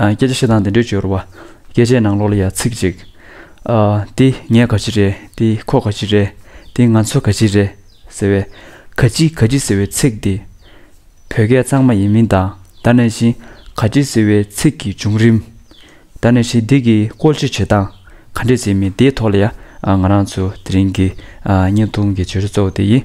སྐད་ཆ་བཤད་སྟངས་འདི་འདྲའི་སྦྱོར་བ། སྐད་ཆའི་ནང་ལོགས་ལ་ཡང་ཚིག་གཅིག། འདི་ངས་ག་ཅི་རེད། འདི་ཁོ་ག་ཅི་རེད། འདི་ང་ཚོ་ག་ཅི་རེད། ཟེར་བའི། ག་ཅི་ག་ཅི་ཟེར་བའི་ཚིག་འདི། བོད་སྐད་གཙང་མ་ཡིན་མིན་དང་ད་ནས་བཞིན་ག་ཅི་ཟེར་བའི་ཚིག་གི་བྱུང་རིམ། ད་ནས་བཞིན་འདི་གི་བཀོལ་སྤྱོད་བྱེད་སྟངས་ག་འདྲས་ཟེར་མིན་དེའི་ཐོག་ལ་ཡང་ང་རང་ཚོ་དེ་རིང་གི་བརྙན་ཐུང་གི་བརྗོད་བྱ་གཙོ་བོ་དེ་ཡིན།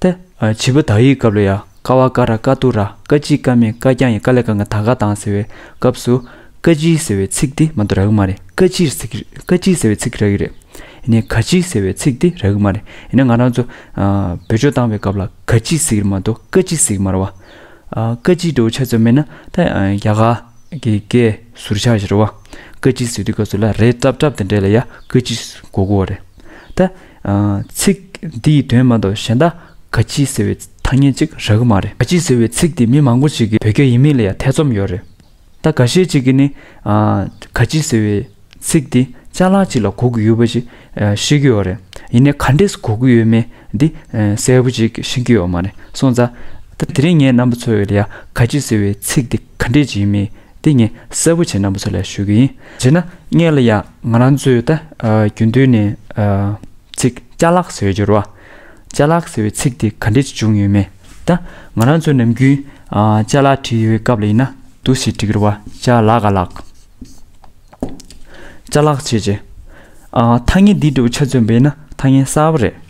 ཏེ། བྱིས་པ་དག་ཡིག་སྐབས་ལ་ཡ་ཀ་བ་ཀ་ར་ཀ་ཏུ་ར་ཀ་ཅི་ཀ་མེ་ཀ་རྐྱང་ཡི་ཀ་ལེ་ཀ་ང་ད་ག་དང་ཟེར་བའི་སྐབས་སུ། ཀ་ཅི་ཟེར་བའི་ཚིག་འདི་མ་འདུག་རག་གི་མ་རེད་ཀ་ཅི་ཀ་ཅི་ཟེར་བའི་ཚིག་རག་གི་རེད། ཡིན་ནས་ག་ཅི་ཟེར་བའི་ཚིག་འདི་རག་གི་མ་རེད་ཡིན་ན་ང་རང་ཚོ། བོད་ཆོས་བཏང་བའི་སྐབས་ལ་ག་ཅི་ཟེར་གི་མ་འདུག་ཀ་ཅི་ཟེར་གི་མ་རེད་བ། ཀ་ཅི་འདྲ་བོ་ཆ་ཚང་མེད་ན་ཏེ་རྒྱ་གར་གྱི་སྐད་ཟུར་ཆགས་ཞེས་རེད་བ། ཀ་ཅི་ཟེར་དུས་སྐབས་སུ་ལ་རེ་ཏབ་ཏབ་དེ་འདྲས་ལ་ཡ་ཀ་ཅི་གོ་གོ་བ་རེད། ད། ཚིག་འདི་ཡི་དོན་མ་གཏོགས་གཞན་དག་ག་ཅི་ཟེར་བའི་ཐ་སྙད་ཅིག་རག་གི་མ་རེད། ག་ཅི་ཟེར་བའི་ཚིག་འདི་མི་མང་པོ་ཅིག་གིས་བོད་སྐད་ཡིན་མིན་ལ་ཡང་ཐེ་ཚོམ་ཡོད་རེད། ད་ག་ཤེད་ཅིག་གིས་ནི། ག་ཅི་ཟེར་བའི་ཚིག་འདི་ཅག་ལག་ཅིག་ལ་གོ་གི་ཡོད་པ་ཞིག་ཤེས་ཀྱི་ཡོད་རེད། ཡིན་ནའི་ག་འདྲེས་གོ་གི་ཡོད་མེད་འདི་གསལ་པོ་ཅིག་ཤེས་ཀྱི་ཡོད་མ་རེད་སོང་ཙང། ད་དེ་རིང་ངས་རྣམ་པ་ཚོ་ལ་ཡང་ག་ཅི་ཟེར་བའི་ཚིག་འདི་ག་འདྲེས་ཅིག་ཡིན་མིན་འདི་ངས་གསལ་པོ་བྱས་རྣམ་པ་ཚོ་ལ་ཞུ་གི་ཡིན། བྱས་ན་ངས་ལ་ཡང། ང་རང་ཚོས་ད་རྒྱུན་དུ་ནས་ཚིག་བཅའ་ལག་ཟེར་བའི་སྦྱོར་བ། བཅའ་ལག་ཟེར་བའི་ཚིག་དེ་ག་འདྲས་ཀྱིས་བྱུང་ཡོད་མེད་ད། ང་རང་ཚོས་ནམ་རྒྱུན་བཅའ་ལག་བྲིས་ཡོད་སྐབས་ལ་ཡིན་ན་དུ་ཞེས་བྲིས་ཀྱི་རེད་བ་བཅའ་ལག་ག་ལག། བཅའ་ལག་བྱས་རྗེས། ཐ་སྙད་འདིའི་འབྲས་བུ་ཆ་མཚོན་པས་ན་ཐ་སྙད་གསར་བ་རེད།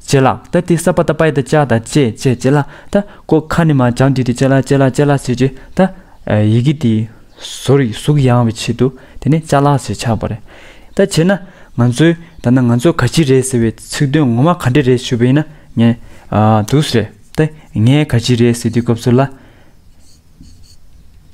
ཅེ་ལ་ཏཱ་ཏི་སྭ་བྷཱ་ཏཱ་པཱི་ཏཱ་ཅཱ་ཏཱ་ཅེ་ཅེ་ཅེ་ལ་ཏཱ་ཀོ་ཁ་ནི་མ་ཅང་ཏི་ཏི་ཅེ་ལ་ཅེ་ལ་ཅེ་ལ་ཅེ་ཅེ་ཏཱ། ཡི་གེ་དེའི་བཟོ་རིགས་གཟུགས་ཡང་བའི་ཆེད་དུ་དེ་ནི་ཅཱ་ལཱ་ཞེས་ཆགས་པ་རེད། ད་བྱས་ན་ང་ཚོའི་ད་ནང་ང་ཚོ་ག་ཅི་རེད་ཟེར་བའི་ཚིག་དོན་ངོ་མ་ག་འདྲེ་རེད་ཞུས་པ་ཡིན་ན་ངས་དུས་རེད་དེ་ངས་ག་ཅི་རེད་ཟེར་དུས་སྐབས་ཚོད་ལ།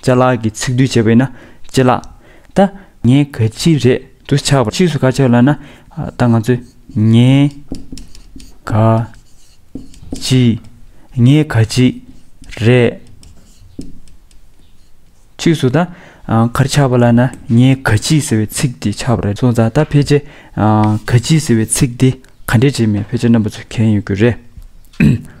བཅའ་ལག་གི་ཚིག་སྡུད་བྱས་པས་ན་བཅད་ལག་ད། ངའི་ག་ཅི་རེད་དུ་ཆགས་པ་ཕྱིས་སུ་ཁ་ཆགས་ལ་ན་ད་ང་ཚོས་ངའི་ག་ཅི་ངའི་ག་ཅི་རེད། ཕྱིས་སུ་ད་གར་ཆགས་པ་ལ་ན་ངའི་ག་ཅི་ཟེར་བའི་ཚིག་དེ་ཆགས་པ་རེད་སོང་ཙང་ད་ཕལ་ཆེར་ག་ཅི་ཟེར་བའི་ཚིག་དེ་ག་འདྲས་བྱས་མིན་ཕལ་ཆེར་རྣམ་པ་ཚོས་མཁྱེན་ཡོད་རྒྱུ་རེད།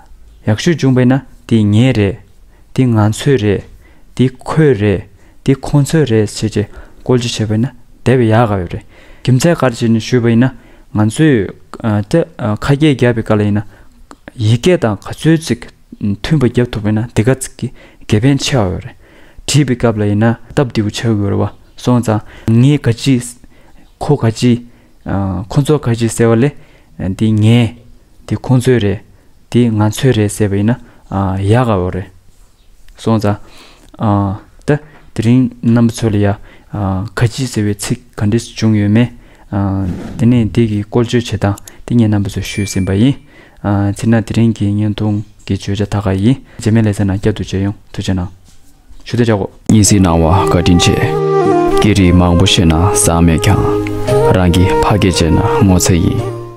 ཡག་ཤོས་བྱུང་བས་ན་འདི་ངའི་རེད། འདི་ང་ཚོའི་རེད། འདི་ཁོའི་རེད། འདི་ཁོ་ཚོའི་རེད་ཟེར་གྱི་བཀོལ་སྤྱོད་བྱས་པས་ན་དེ་བས་ཡག་ག་ཡོད་རེད། རྒྱུ་མཚན་ག་རེ་བྱས་ནས་ཞུས་པ་ཡིན་ན། ང་ཚོས་ཁ་སྐད་བརྒྱབ་པའི་སྐབས་ལ་ཡིན་ན། ཡིག་སྐད་དང་ག་ཚོད་ཅིག་མཐུན་པ་བརྒྱབ་ཐུབ་པས་ན་དེ་ག་ཚིག་གི་དགེ་ཕན་ཆེ་བ་ཡོད་རེད། བྲིས་པའི་སྐབས་ལ་ཡིན་ན་སྟབས་བདེ་བོ་བྱ་དགོས་རེད་བ་སོང་ཙང། ངས་ག་ཅི། ཁོ་ག་ཅི། ཁོ་ཚོ་ག་ཞིག་ཟེར་བ་ལས་འདི་ངའི། འདི་ཁོ་ཚོའི་རེད། འདི་ང་ཚོའི་རེད་ཟེར་བ་ཡིན་ན་ཡག་ག་བོ་རེད། སོང་ཙང། ད་དེ་རིང་རྣམ་པ་ཚོ་ལ་ཡ། ག་ཅིག་ཟེར་བའི་ཚིག་ག་འདྲི་བྱུང་ཡོད་མེད། དེ་ནས་འདི་གི་བཀོལ་སྤྱོད་བྱེད་སྟངས་དེ་ངས་རྣམ་པ་ཚོར་ཞུས་ཟིན་པ་ཡིན། ཚེ་ན་དེ་རིང་གི་བརྙན་ཐུང་གི་བརྗོད་བྱ་ད་ག་ཡིན། རྗེས་མའི་ལེ་ཚན་ནང་བསྐྱར་དུ་མཇལ་ཡོང་ཐུགས་ཆེ་གནང། ཞུ་བདེ་བྱ་དགོས། གཉིད་སད་སྣང་བ་བཀའ་དྲིན་ཆེ། སྐད་རིགས་མང་པོ་ཤེས་ན་བཟང་མེད་ཀྱང། རང་གི་ཕ་སྐད་སྤྱད་ན་ངོ་ཚ་ཡིན།